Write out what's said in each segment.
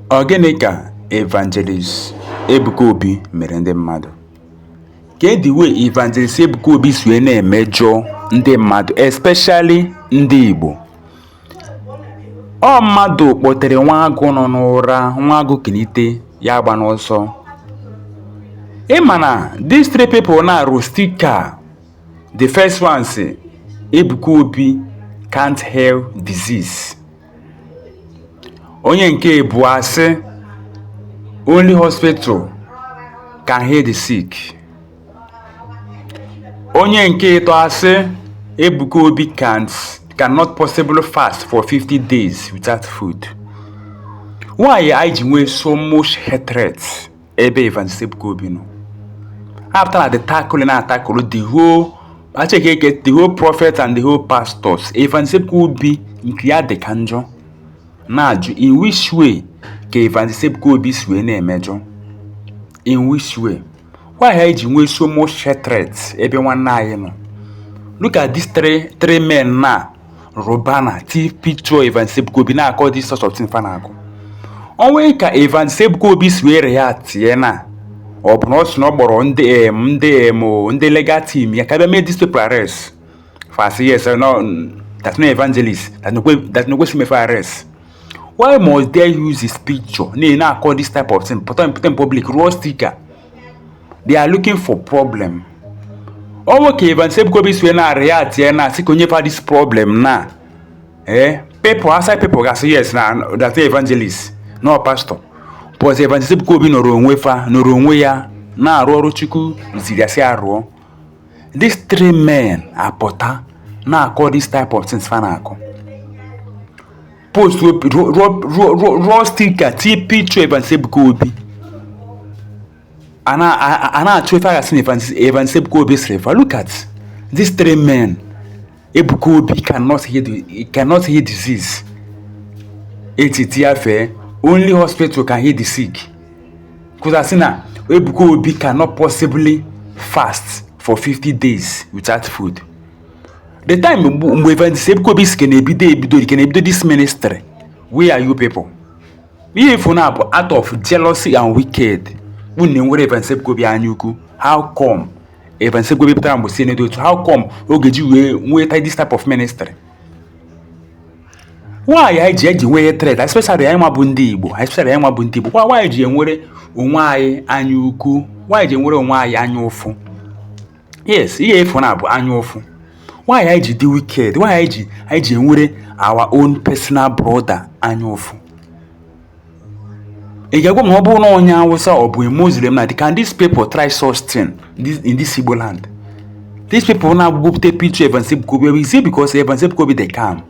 Ọ gịnị ka Evangelist Ebuka Obi mere ndị mmadụ? Kee the way Evangelist Ebuka Obi si wee na-emejọ ndị mmadụ especially ndị Igbo? Ọ mmadụ kpọtere nwa agụ nọ n'ụra nwa agụ kunite ya agba n'ọsọ. Ị ma na these three people na-arụ stika The first one sị Ebuka Obi can't heal disease. Onye nke ịbụa asị only hospital can heal the sick. Onye nke ịtọ asị Ebuka Obi can't cannot possibly fast for 50 days without food. Why anyị ji nwee so much hatred? ebe Evangelist Ebuka Obi nọ apụta na the tackle na tackle the whole acheke get the whole prophet and the whole pastors Evangelist Ebuka Obi nke ya dị ka njọ na-ajụ in which way ka Evangelist Ebuka Obi si wee na-emejọ in which way why anyị ji nwee so much hatred ebe nwanne anyị nọ look at these three three men na rụ banner tii picture Evangelist Ebuka Obi na-akọ this sort of thing fa na-akọ o nwee ka Evangelist Ebuka Obi si wee reactie na ọ bụ na ọ sị na ọ kpọrọ ndị em ndị em ndị legal team ya ka bịa mee these people arrest fa sị yes no that's no evangelist that's no that's no question for arrest why must they use his picture na na-akọ this type of thing pụta pụta in public rụọ sticker they are looking for problem o nwee ka Evangelist Ebuka Obi si na react ya na asị ka o nye fa this problem na eh people outside people ga-asị yes na that evangelist no pastor but Evangelist Ebuka Obi nọrọ onwe fa nọrọ onwe ya na-arụ ọrụ Chukwu ziri ya sị ya rụọ these three men apụta na-akọ this type of things fa na-akọ post rụọ stika tinye picture Evangelist Ebuka Obi a na-achọ ife a ga-asị na Evangelist Ebuka Obi sịrị fa look at these three men Ebuka Obi cannot heal cannot heal disease etiti ya fee only hospital can heal the sick kwụta sị na Ebuka Obi cannot possibly fast for 50 days without food the time mgbe mgbe evangelist ebuka obi si ka na-ebido ebido ka na-ebido this ministry where are you people ihe ị fụ na ọ bụ out of jealousy and wicked unu na-enwere evangelist ebuka obi anya ukwu how come evangelist ebuka obi pụtara mgbe si n'edo otu how come o ji wee nweta this type of ministry why anyị ji eji nwee hatred especially anyị nwa bụ ndị igbo especially anyị nwa bụ ndị igbo kwa why anyị ji enwere onwe anyị anya ukwu why anyị ji enwere onwe anyị anya ụfụ yes ihe efu na bụ anya ụfụ why anyị ji dị wicked why anyị ji anyị ji enwere our own personal brother anya ụfụ ị ga-agwa m ọ bụrụ na onye awụsa ọ bụ muslim na can these people try such thing in this igbo land these people na-agbụgbopụta picture Evangelist Ebuka Obi is it because Evangelist Ebuka Obi dey calm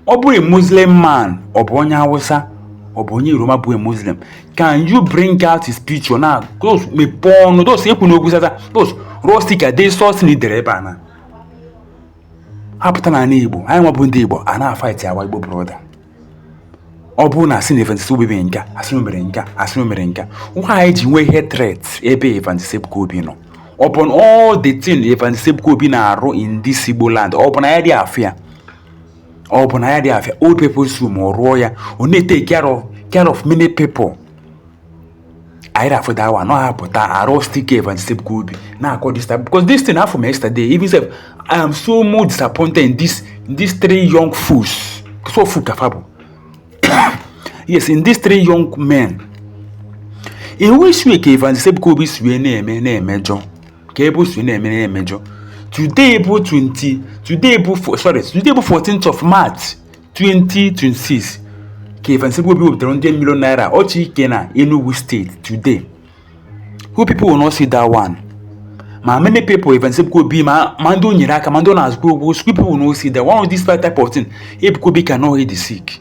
ọ bụ a muslim man ọ bụ onye awụsa ọ bụ onye yoruba bụ a muslim can you bring out his picture na those mepee ọnụ those ekwu n'okwu sata those rostika dey sos na idere ebe a na apụta n'ala igbo anyị nwa bụ ndị igbo a na-afight our igbo brother ọ bụrụ na a sị na evangelist obi mere nka a sị na o mere nka a sị na o mere nka why anyị ji nwee hatred ebe evangelist ebuka obi nọ ọ bụ na all the thing evangelist ebuka obi na-arụ in this igbo land ọ bụ na ya dị afụ ya ọ bụ na ya dị afịa old people's home ọ rụọ ya ọ na-etake care of many people anyị rafụ da awa nọ ha pụta attack evangelist ebuka obi na-akọ this time because this thing afụ m yesterday even sef i am so much disappointed in this in these three young fools so fool ka fa bụ yes in these three young men iwu isue ka evangelist ebuka obi si na-eme na-emejọ ka ebe o si na-eme na-emejọ today bụ 20 today bụ fo- sorry today bụ 14th of march 2026 ka Evangelist Ebuka Obi wepụtara ndị million naira ọchị ike na Enugu state today you people will not see that one ma many people Evangelist Ebuka Obi ma ma ndị o nyere aka ma ndị ọ na-akwụkwa ụgwọ people will not see that one of these five type of thing Ebuka Obi cannot heal the sick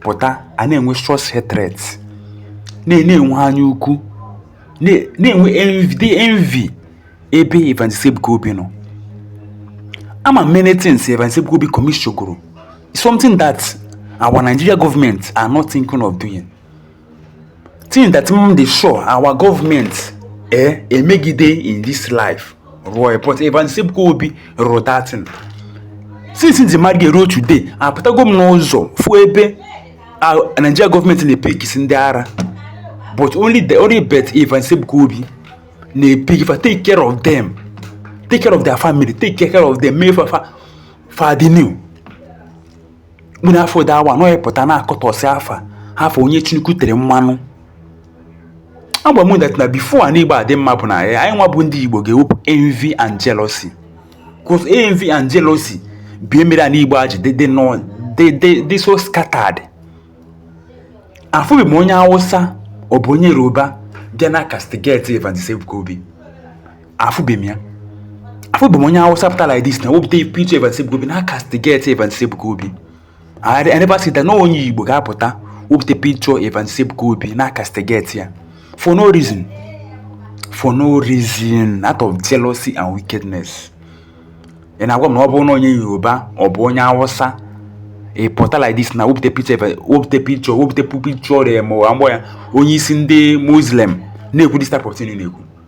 pụta a na-enwe serious hatred na-enwe anya ukwu na-enwe envy envy ebe Evangelist Ebuka Obi nọ ama many things Evangelist Ebuka Obi commission gụrụ something that our Nigeria government are not thinking of doing thing that m dị sure our government eh, emegide in this life rụọ but Evangelist Ebuka Obi rụrụ that thing since m ji mara ihe ruo today apụtago m n'ụzọ fụ ebe Nigeria government na-epickisi ndị ara but only the only but Evangelist Ebuka Obi na-epick fa take care of them take care of their family take care of them mee fa fa fa dị new mkpụrụ afọ dị awa nọ pụta na-akọtọsị afa afa onye Chineke tere mmanụ agwa m that na before anị Igbo adị mma bụ na anyị nwa bụ ndị Igbo ga-ewepụ envy and jealousy cause envy and jealousy bụ ihe mere anị Igbo ji dị so scattered afụbeghị m onye Hausa ọ bụ onye Yoruba bịa na-acastigate Evangelist Ebuka Obi afụbeghị m ya afụbeghị m onye awụsa pụta like this na wepụta picture Evans Ebuka Obi na castigate Evans Ebuka Obi I never see that na onye Igbo ga-apụta wepụta picture Evans Ebuka Obi na castigate ya for no reason for no reason out of jealousy and wickedness ị na-agwa m na ọ bụrụ na onye yoruba ọ bụ onye awụsa ị pụta like this na wepụta picture wepụta picture wepụta picture ma ọ bụ onye isi ndị muslim na-ekwu this type of thing na-ekwu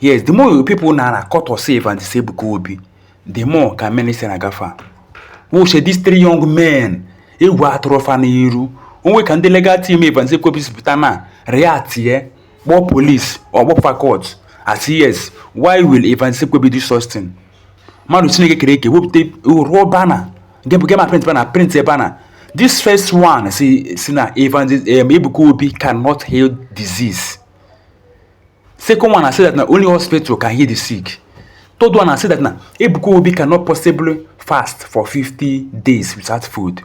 yes the more people na na-akatọ evangelist ebuka obi the more ka ministry ya na-agafa watchie these three young men egwu atụrọ fa n'iru o nwee ka ndị legal team evans ebuka obi si pụta na react ye kpọọ police or kpọọ fa court a sị yes why will evans ebuka obi do such thing mmadụ chineke kere eke wepụta rụọ banner gema print banner printie banner this first one si si na evans um, ebuka obi cannot heal disease Second one, I say that na only hospital can heal the sick. Third one, I say that na Ebuka Obi cannot possibly fast for 50 days without food.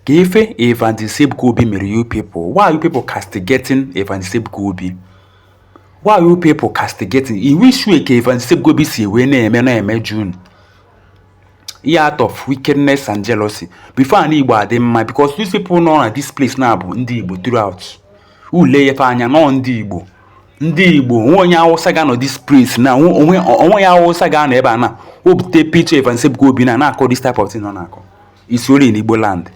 Ka ife Evangelist Ebuka Obi mere you people, why are you people castigating Evangelist Ebuka Obi? Why are you people castigating? Iwu issue ka Evangelist Ebuka Obi si wee na-eme na-eme June. ihe out of wickedness and jealousy before ana igbo adị mma because these people nọ na this place na bụ ndị igbo throughout i lee fa anya na ọ ndị igbo ndị igbo o nwe onye awụsa ga-anọ this place na o nwe onye awụsa ga-anọ ebe a na wepụta picture Evans Ebuka Obi na na-akọ this type of thing nọ na-akọ it's only in igbo land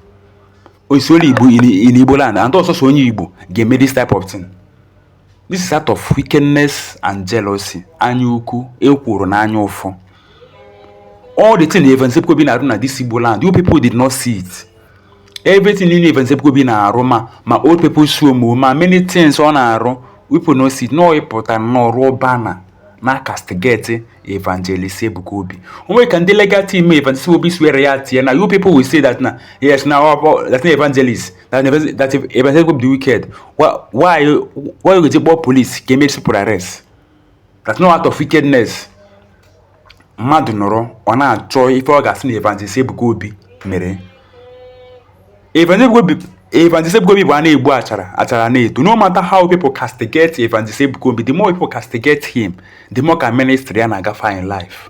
it's only igbo in igbo land and ọ sọsọ onye igbo ga-eme this type of thing This is out of wickedness and jealousy. Anya ukwu, ekworo na anya ụfụ. All the thing Evans Ebuka Obi na-arụ na this Igbo land, you people did not see it. Everything niile Evans Ebuka Obi na-arụ ma ma old people's home ma many things ọ na-arụ people no see unu pụta nnọọ rụọ banner na castigate Evangelist Ebuka Obi. O nwere ka ndị legal team Evangelist Ebuka Obi si wee reactie na you people will say that na yes na ọ bụ that na Evangelist that person that evans ebuka obi dị wicked why why you why ọ ga-eji kpọọ police ka e mee these people arrest that's no out of wickedness mmadụ nọrọ ọ na-achọ ife ọ ga-asị na evangelist ebuka obi mere evangelist ebuka obi bụ a na-egbu achara achara na-eto no matter how people castigate evangelist ebuka obi the more people castigate him the more ka ministry ya na-agafa in life